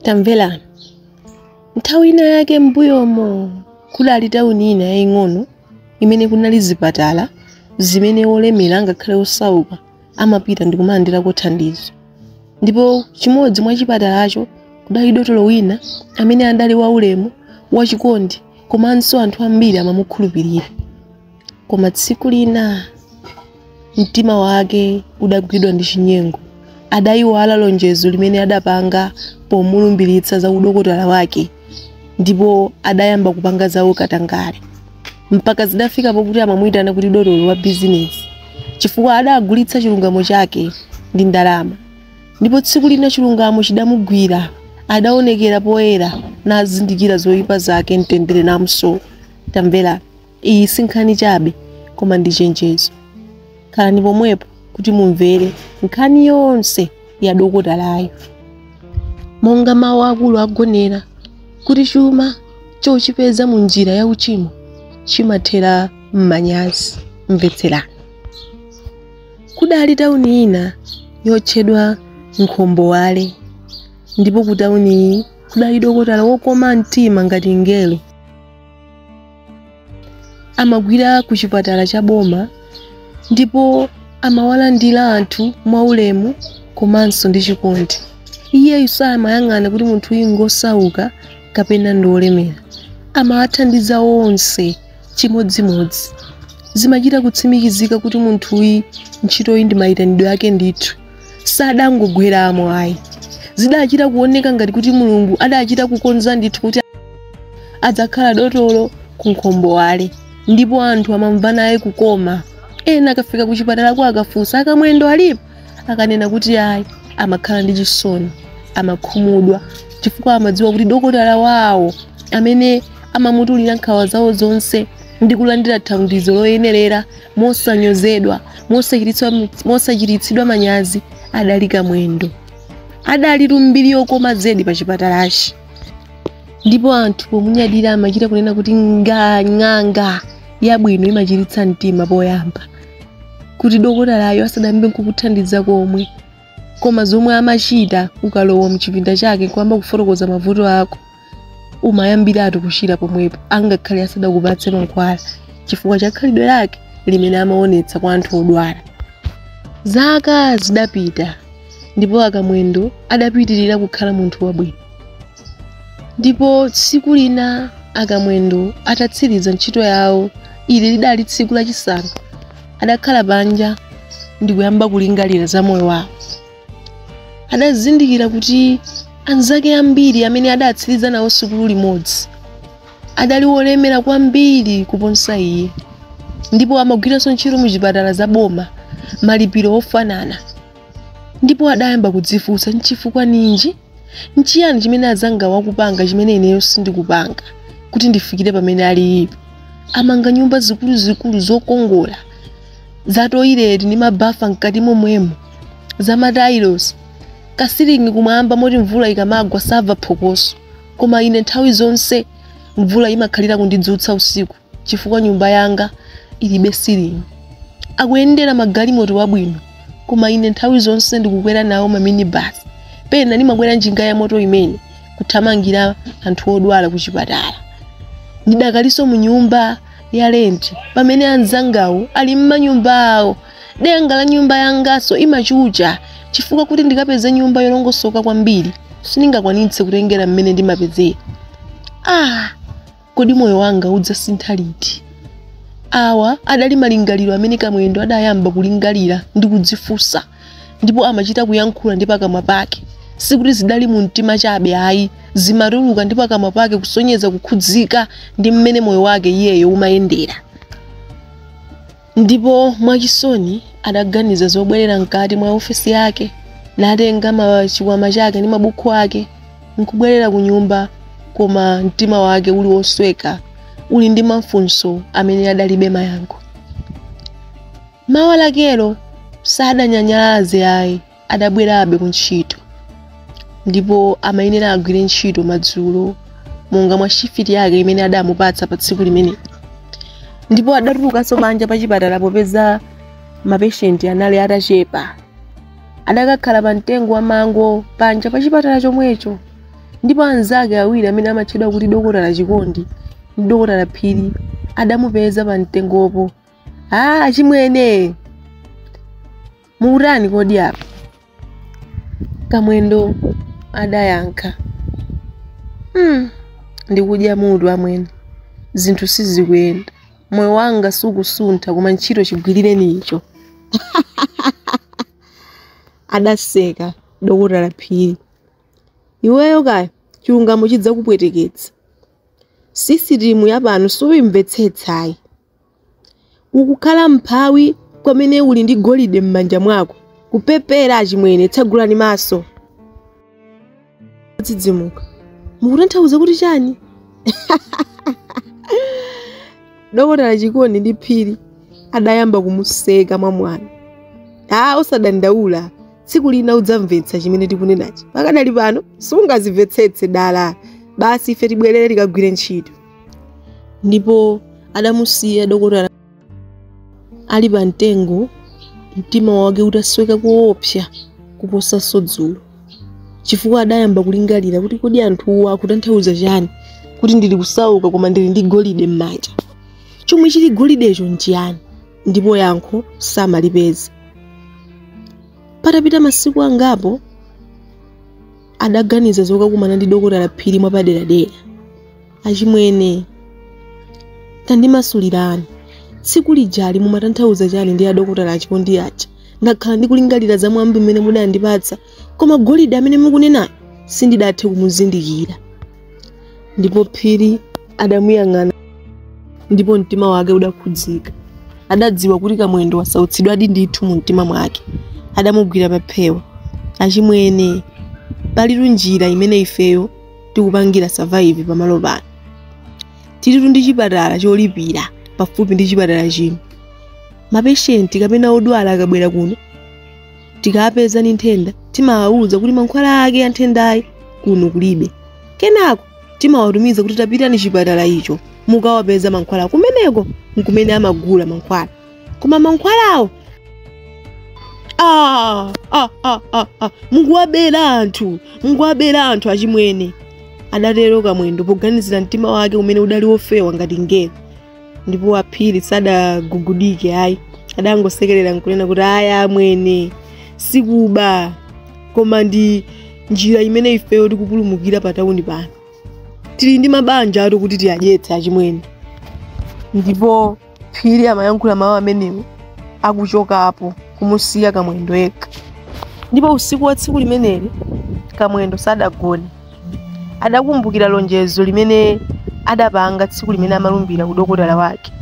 tamvera nthawi ina yake m'mbuyomo kudali tawuni ina yaying'ono imene kunali zipatala zimene olemera ngakhale osauka amapita ndi kumalandirako thandizo ndipo chimodzi mwa chipatalacho kudali dotolo wina amene adali waulemu wachikondi komanso anthu ambiri amamukhulupirira koma tsiku lina mtima wake udagwidwa ndi chinyengo adayiwala lonjezo limene adapanga pomulumbiritsa za udokotala wake ndipo adayamba kupanga za ukatangale mpaka zidafika pokuti amamuyitana kuti dotolo wa bizinesi chifukwa adagulitsa chilungamo chake ndi ndalama ndipo tsiku lina chilungamo chidamugwira adaonekera poyera nazindikira zoyipa zake mtendere namso tamvera Iyi si nkhani chabe, koma ndi chenjezo. Khalani pomwepo kuti mumvere nkhani yonse ya dokotalayu. Monga mawu akulu agonera, kuti chuma chochipeza mu njira ya uchimo chimathera m'manyazi. Mvetserani. Kudali tauni ina yotchedwa Nkhombowale, ndipo ku tauniyi kudali dokotala wokoma mtima ngati mngelo. amagwira ku chipatala cha boma ndipo amawalandira anthu mwaulemu komanso ndi chikondi iyeyu samayang'ana kuti munthu uyu ngosauka kapena ndi olemera amawathandiza onse chimodzimodzi zimachita kutsimikizika kuti munthu uyu ntchitoyi ndi mayitanidwe ake ndithu sadangogweramo ayi zidachita kuoneka ngati kuti mulungu adachita kukonza ndithu kuti adzakhala dotolo ku nkhombowale ndipo anthu amamva naye kukoma ena akafika ku chipatalako akafunsa a Kamwendo alipo akanena kuti ayi amakhala ndi chisoni amakhumudwa chifukwa amadziwa kuti dokotala wawo amene amamutulira nkhawa zawo zonse ndi kulandira thandizo loyenerera mosanyozedwa mosachititsidwa manyazi adali kamwendo adali ndi mbiri yokoma zedi pa chipatalachi ndipo anthu pomunyadira amachita kunena kuti ng'anga yabwino imachiritsa mtima poyamba kuti dokotalayo asadayambe kukuthandiza komwe koma zomwe amachita ukalowa mchipinda chake nkuyamba kufotokoza mavuto ako umayambiratu kuchira pomwepo angakhale asadakupatse mankhwala chifukwa cha khalidwe lake limene amaonetsa kwa anthu odwala zaka zidapita ndipo a Kamwendo adapitirira kukhala munthu wabwino ndipo tsiku lina a Kamwendo atatsiriza ntchito yawo ili lidali tsiku lachisanu adakhala panja ndikuyamba kulingalira za moyo wawo adazindikira kuti anzake ambiri amene adatsiriza nawo sukulu limodzi adali wolemera kwambiri kuposa iye ndipo amagwiranso ntchito mu chipatala za boma malipiro ofanana ndipo adayamba kudzifunsa nchifukwa ninji nchiyani chimene azanga akupanga chimene ineyo sindikupanga kuti ndifikire pamene alipo amanga nyumba zikuluzikulu zokongola za toileti ndi mabafa mkati momwemo za matailosi kasilingi kumwamba moti mvula ikamagwa samva phokoso koma ine nthawi zonse mvula imakhalira kundidzutsa usiku chifukwa nyumba yanga ilibe ceiling. Akuyendera magalimoto abwino, koma ine nthawi zonse ndikukwera nawo ma minibus. Pena ndimakwera njinga ya moto imene kuthamangira anthu odwala ku chipatala. Ndidakalinso mu nyumba ya lenti pamene anzangawo ali m'manyumba awo. Denga la nyumba yanganso imachucha chifukwa kuti ndikapeze nyumba yolongosoka kwambiri sindingakwanitse kutengera mmene ndimapezera. Ah! Kodi moyo wanga udzasintha liti? Awa adali malingaliro amene Kamwendo adayamba kulingalira ndi kudzifunsa ndipo amachita kuyankhula ndi pakamwa pake. Sikuti zidali mu mtima chabe ayi, zimatuluka ndi pakamwa pake kusonyeza kukhudzika ndi mmene moyo wake iyeyo umayendera. ndipo mwachisoni adaganiza zobwerera mkati mwa ofesi yake natenga ma- chikwama chake ndi mabuku ake nkubwerera ku nyumba koma mtima wake uli wosweka uli ndi mafunso amene adalibe mayankho mawa lakelo sadanyanyalaze ayi adabwerabe kuntchito ndipo amayenera agwire ntchito madzulo monga mwa shifiti yake imene adamupatsa pa tsiku limene ndipo adatulukanso panja pa chipatala popeza mapeshenti anali atachepa adakakhala pa mtengo wa mango panja pa chipatala chomwecho ndipo anzake awiri amene amatchedwa kuti dokotala chikondi ndi dokotala phiri adamupeza pa mtengopo achimwene Mukutani kodi apa? Kamwendo adayankha. Hmm, ndikudya mutu amwene. Zinthu sizikuyenda. Moyo wanga sukusuntha koma ntchito chigwirirenicho. Adaseka dokotala Phiri. Iweyo kaya chilungamo chidzakupweteketsa. Sisitimu yapano suyimvetsetsayi. Ukukhala mphawi kwamene uli ndi golide m'manja mwako, kupepera achimwene, tsegulani maso. Adadzidzimuka, mukutanthauza kuti chani? Dokotala Chikondi ndi Phiri adayamba kumuseka mwamwano. Ah, usadandaule, tsiku lina udzamvetsa chimene tikunenachi. Pakadali pano sungazimvetsetse dala, basi ife tibwerere tikagwire ntchito. ndipo adamusiya dokotala ali pa mtengo mtima wake utasweka koopsa kuposanso dzulo chifukwa adayamba kulingalira kuti kodi anthuwa akutanthauza chani kuti ndili kusauka koma ndili ndi golide m'manja chomwe chili golidecho nchiyani ndipo yankho samalipeza patapita masiku angapo adaganiza zokakumana ndi dokotala phiri mwapaderadera achimwene tandimasulirani tsiku lijali mumatanthauza chani ndi adokotala Chikondi aja ndakhala ndikulingalira za mwambi umene mudandipatsa koma golide amene mukunenayo sindidathe kumuzindikira ndipo phiri adamuyang'ana ndipo mtima wake udakhudzika adadziwa kuti kamwendo wasautsidwadi ndithu mu mtima mwake adamugwira paphewa achimwene palitu njira imene ifeyo tikupangira survive pamalo pano tilitu ndi chipatala cholipira pafupi ndi chipatala chino mapeshenti kapena odwala akabwera kuno tikawapeza ndi nthenda timawauza kuti mankhwala ake a nthendayi kuno kulibe kenako timawatumiza kuti tapitani chipatala icho mukawapeza mankhwala kumeneko nkumene amagula mankhwala koma mankhwalawo ah, ah, ah, ah, ah. mukuwabera anthu mukuwabera anthu achimwene adatero kamwendo poganizira mtima wake umene udali wofewa ngati ngelo ndipo Phiri sadagugudike ayi adangosekerera nkunena kuti aya amwene sikuba koma ndi njira imene ifeyo tikupulumukira pa tawuni pano tili ndi mabanjatu kuti tiwadyetse achimwene ndipo phiri amayankhula mawu amenewo akuchokapo kumusiya kamwendo yekha ndipo usiku wa tsiku limeneli kamwendo sadagone adakumbukira lonjezo limene adapanga tsiku limene amalumbira udokotala wake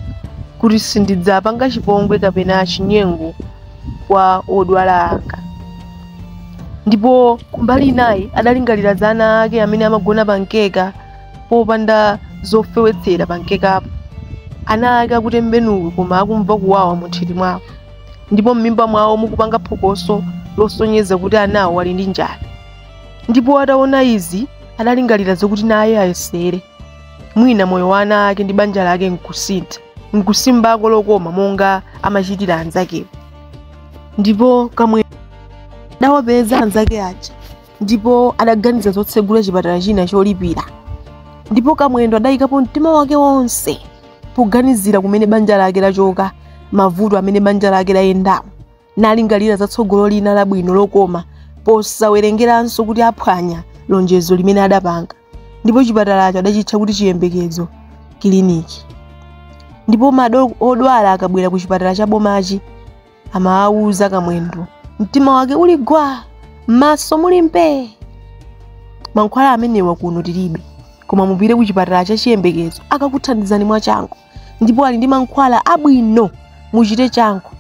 kuti sindidzapanga chipongwe kapena chinyengo kwa odwala anga ndipo kumbali inayi adalingalira za ana ake amene amagona pa mkeka popanda zofewetsera pa mkekapo ana ake akutembenuka koma akumva kuwawa munthiti mwawo ndipo m'mimba mwawo mukupanga phokoso losonyeza kuti anawo ali ndi njala ndipo ataona izi adalingalira zokuti naye ayesere mwina moyo wa ana ake ndi banja lake nkusintha nkusimbako lokoma monga amachitira anzakewo ndipo kamwendo adawapeza anzake aja ndipo adaganiza zotsegula chipatala china cholipira ndipo kamwendo adayikapo mtima wake wonse poganizira kumene banja lake lachoka mavuto amene banja lake layendamo nalingalira za tsogolo lina labwino lokoma posawerengeranso kuti aphwanya lonjezo limene adapanga ndipo chipatalacho adachitcha kuti chiyembekezo kiliniki ndipo odwala akabwera ku chipatala cha bomachi amawawuza kamwendo mtima wake uli gwa m'maso muli mpee mankhwala amenewa kuno tilibe koma mupite ku chipatala cha chiyembekezo akakuthandizani mwachangu ndipo ali ndi mankhwala abwino muchite changu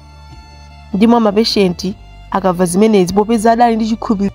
ndiye mapeshenti akamva zimenezi popeza adali ndi chikhulupiriro